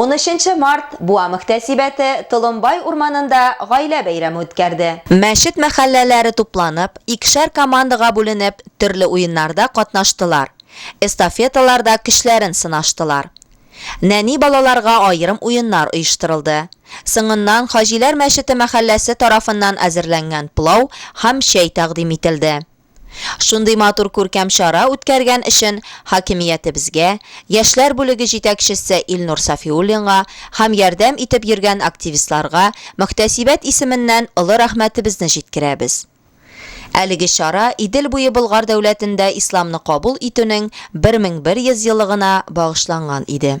Унөченче март Буа мөхтәсибәте Толымбай урманында гаилә бәйрәме үткәрде. Мәчет мәхәлләләре тупланып, икешәр командага бүленеп, төрле уеннарда катнаштылар, эстафеталарда көчләрен сынаштылар. Нәни балаларга аерым уеннар оештырылды. Соңыннан Хаҗиләр мәчете мәхәлләсе тарафыннан әзерләнгән плау һәм чәй тәкъдим ителде. Шундый матур күркәм чара үткәргән өчен хакимиятебезгә, яшьләр бүлеге җитәкчесе Илнур Сафиуллинга һәм ярдәм итеп йөргән активистларга мөхтәсибәт исеменнән олы рәхмәтебезне җиткерәбез. Әлеге чара Идел буе Болгар дәүләтендә исламны кабул итүнең 1100 еллыгына багышланган иде.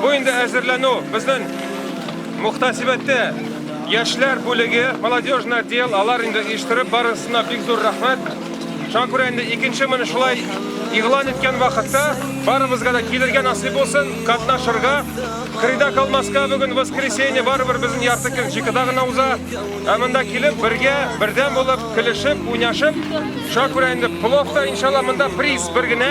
Бу инде әзерләнү безнең мөхтәсибәттә яшьләр бүлеге, молодежный отдел, алар инде оештырып барысына бик зур рәхмәт. Шуңа күрә инде икенче моны шулай игълан иткән вакытта барыбызга да килергә насыйп булсын, катнашырга. Кырыйда калмаска бүген воскресенье барыбер безнең ярты көн җикыда гына уза. Ә монда килеп бергә, бердәм булып, көлешеп, уйнашып, шуңа күрә инде плов та иншалла монда приз бер генә.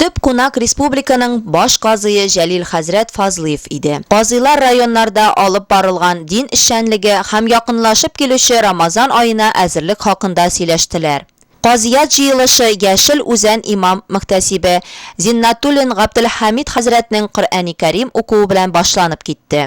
Төп кунак республиканың баш казые Җәлил хәзрәт Фазлыев иде. Казыйлар районнарда алып барылган дин эшчәнлеге һәм якынлашып килүче Рамазан аена әзерлек хакында сөйләштеләр. Казыят җыелышы Яшел Үзән имам мөхтәсибе Зиннатуллин Габделхәмид хәзрәтнең Коръәни Кәрим укуы белән башланып китте.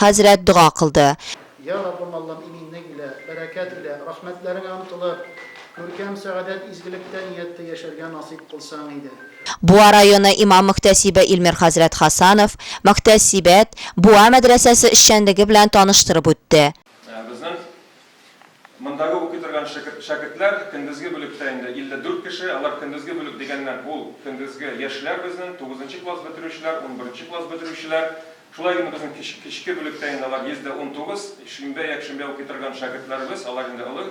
Хәзрәт дога кылды. Йа Раббым Аллам иминлек илә, бәрәкәт илә, рәхмәтләреңә омтылып, күркәм, сәгадәт, изгелектә нияттә яшәргә насыйп кылсаң иде. Буа районы имам-мөхтәсибе Илмир хәзрәт Хасанов мөхтәсибәт Буа мәдрәсәсе эшчәнлеге белән таныштырып үтте. Безнең Мондагы укый торган шәкертләр көндезге бүлектә инде 54 кеше, алар көндезге бүлек дигәннән ул көндезге яшьләр безнең, тугызынчы класс бетерүчеләр, унберенче класс бетерүчеләр. Шулай инде безнең кечке бүлектә инде алар 119, шимбә, якшимбә укый торган шәкертләребез, алар инде олы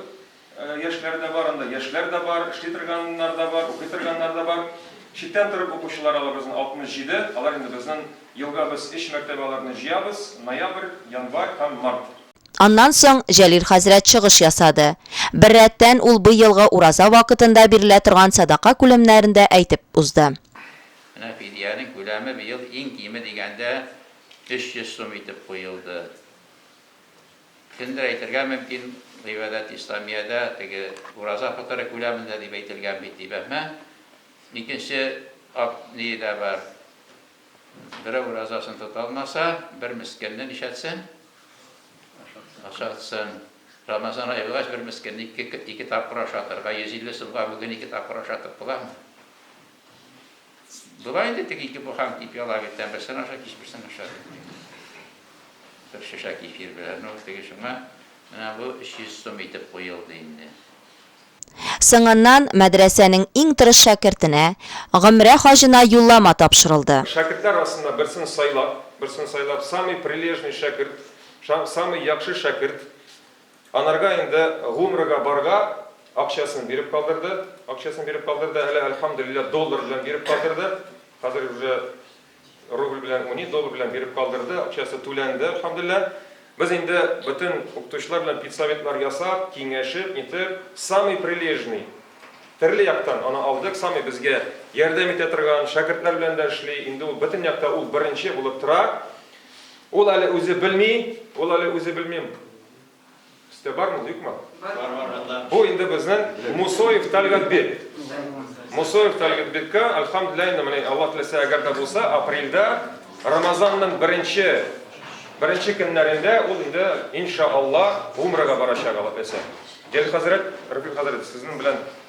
яшьләре дә бар, анда яшьләр дә бар, эшли торганнар да бар, укый торганнар да бар. Читтән торып укучылар алар безнең 67, алар инде безнең елга без өч мәртәбә аларны җыябыз, ноябрь, январь һәм март. Аннан соң Җәлил хәзрәт чыгыш ясады. Беррәттән, ул бый елгы ураза вакытында бирелә торган сәдака күләмнәрен дә әйтеп узды. Менә фидиянең күләме быел иң киме дигәндә 300 сум итеп куелды. Кемдер әйтергә мөмкин, Гыйбадәт Исламиядә теге ураза фытыры күләмендә дип әйтелгән бит, дип. Әмма икенче ак ние дә бар. Берәү уразасын тота алмаса, бер мескенне нишләтсен? Ашатсын. Рамазан ае булгач, бер мескенне ике тапкыр ашатырга, 150 сумга бүген ике тапкыр ашатып буламы? Була инде, теге ике буханка ипи ала бит, берсен аша, кич берсен аша. Бер шешә кефир белән, ну, теге шуңа менә бу 300 сум итеп куелды инде. Соңыннан мәдрәсәнең иң тырыш шәкертенә, гомрә хаҗына юллама тапшырылды. Шәкертләр арасыннан берсен сайлап, берсен сайлап, самый прилежный шәкерт, самый яхшы шәкерт, анарга инде гумрәгә барга акчасын биреп калдырды, акчасын биреп калдырды, әле, әлхәмдүлилләһ, доллар белән биреп калдырды, хәзер уже. Рубль белән уни, доллар белән биреп калдырды, акчасы түләнде, әлхәмдүлилләһ. Без инде бөтен укытучылар белән педсоветлар ясап, киңәшеп, нитеп, самый прилежный, төрле яктан аны алдык, самый безгә ярдәм итә торган, шәкертләр белән дә эшли, инде ул бөтен якта ул беренче булып тора. Ул әле үзе белми, ул әле үзе белми. Өстә бар мул, юкмы? Бар, бар, бар. Бу инде безнең Мусоев Тәлгатбек. Мусоев Тәлгатбеккә, альхамдулилла, инде менә Аллаһ теләсә, әгәр дә булса, апрельдә Рамазанның беренче беренче көннәрендә ул инде иншааллаһ Умрага барачак Аллаһ теләсә. Гел хәзрәт, Рәфил хәзрәт, сезнең белән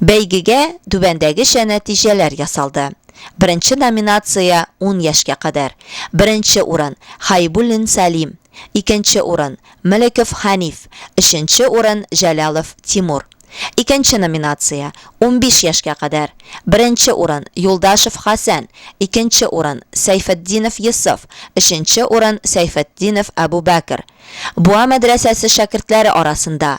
Бәйгегә түбәндәгечә нәтиҗәләр ясалды. Беренче номинация, ун яшькә кадәр. Беренче урын, Хәйбуллин Сәлим. Икенче урын, Мөлеков Хәниф. Өченче урын, Җәлалов Тимур. Икенче номинация, унбиш яшькә кадәр. Беренче урын, Юлдашев Хәсән. Икенче урын, Сәйфетдинов Йосыф. Өченче урын, Сәйфетдинов Әбүбәкер. Буа мәдрәсәсе шәкертләре арасында.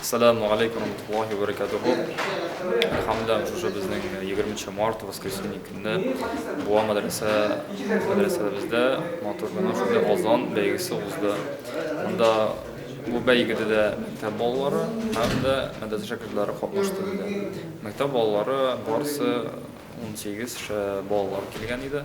Ассаламу алейкум рамтуллахи ва баракатуху. Хамда уже безнең 20 март воскресенье көнне буа мәдрәсә мәдрәсәбездә матур гына шундый азан бәйгесе узды. Монда бу бәйгедә дә мәктәп балалары һәм дә мәдрәсә шәкертләре катнашты иде. Мәктәп балалары барысы 18 балалар килгән иде.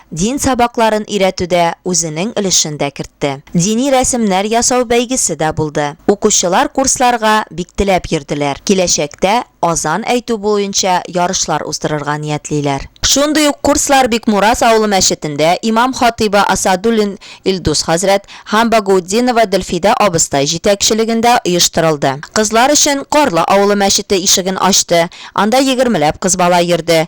дин сабакларын өйрәтүдә үзенең өлешен дә кертте. Дини рәсемнәр ясау бәйгесе дә булды. Укучылар курсларга бик теләп йөрделәр. Киләчәктә азан әйтү буенча ярышлар уздырырга ниятлиләр. Шундый ук курслар Бикмураз авылы мәчетендә имам-хатыйбы Асадуллин Илдус хәзрәт һәм Багаутдинова Дөлфидә абыстай җитәкчелегендә оештырылды. Кызлар өчен Карлы авылы мәчете ишеген ачты, анда егермеләп кыз бала йөрде.